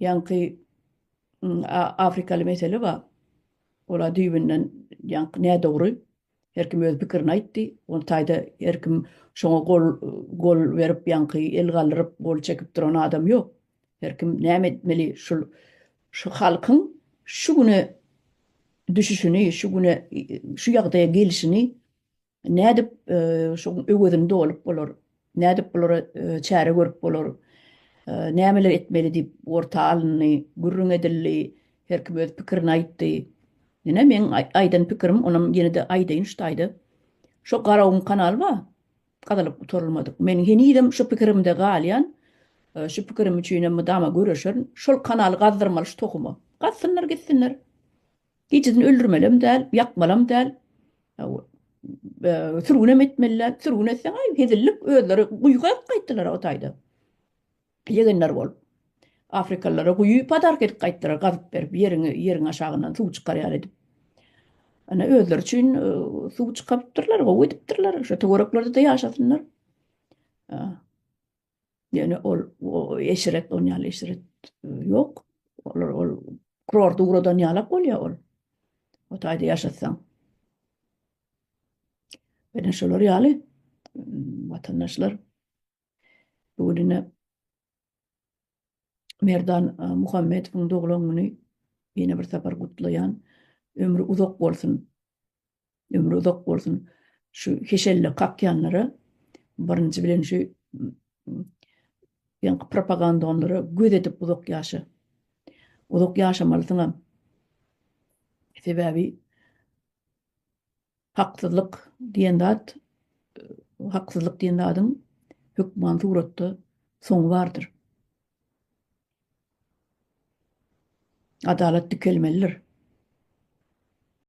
ýaňky afrikaly mesele bar. Ola düýbünden ýaňky nädogry. Her kim öz pikirini aýtdy. Ol taýda her kim şoňa gol gol berip ýaňky el galdyryp gol çekip duran adam ýok. Her kim näme etmeli şul şu halkyň şu güne düşüşini şu güne şu ýagdaýa gelişini Nädip şoň öwezini dolup bolar? Nädip bulara çäre görüp bolar? Nämeler etmeli diýip orta alyndy, gürrüň edildi, her kim öz pikirini aýtdy. Ýene meň aýdan pikirim, onam ýene-de aýdaýyn şu taýda. Şo Garagum kanaly bar, gazylyp gutarylmadyk. Men henizem şu pikirimde galýan, şu pikirim üçinem mydama göreşerin. Şol kanaly gazdyrmaly şu tohuma. Gazsynlar gitsinler. Gijidin öldürmelem däl, ýakmalam däl. Sürgünem etmeli däl. Sürgün etseň, aý, hezillik, özleri guýyga edip gaýtdylar-a o taýda. Ýegenler bolup. Afrikalylara guýy padarka edip gaýtdylar, gazyp berip, ýeriňi, ýeriň aşagyndan suw çykarýar edip. Ana, özleri üçin suw çykarypdyrlar, gowy edipdirler. Şo töwereklerde-de ýaşasynlar. Ýöne ol eşret, on ýaly eşret ýok. Olar ol kurorta ugradan ýalak bolýar ol. O taýda ýaşatsaň. Ýöne şolar ýaly watandaşlar bu gününe Merdan Muhammedowyň doglan güni ýene bir sapar gutlaýan. Ömri uzak bolsun. ömri uzak bolsun. Şu keşelle kakýanlara birinji bilen şu ýaňky propagandalara göz edip uzak ýaşa. Uzak ýaşamalysyňam. Sebäbi haksyzlyk diýen zat, haksyzlyk diýen zadyň hökman suratda soňy bardyr. Adalat dikelmelidir.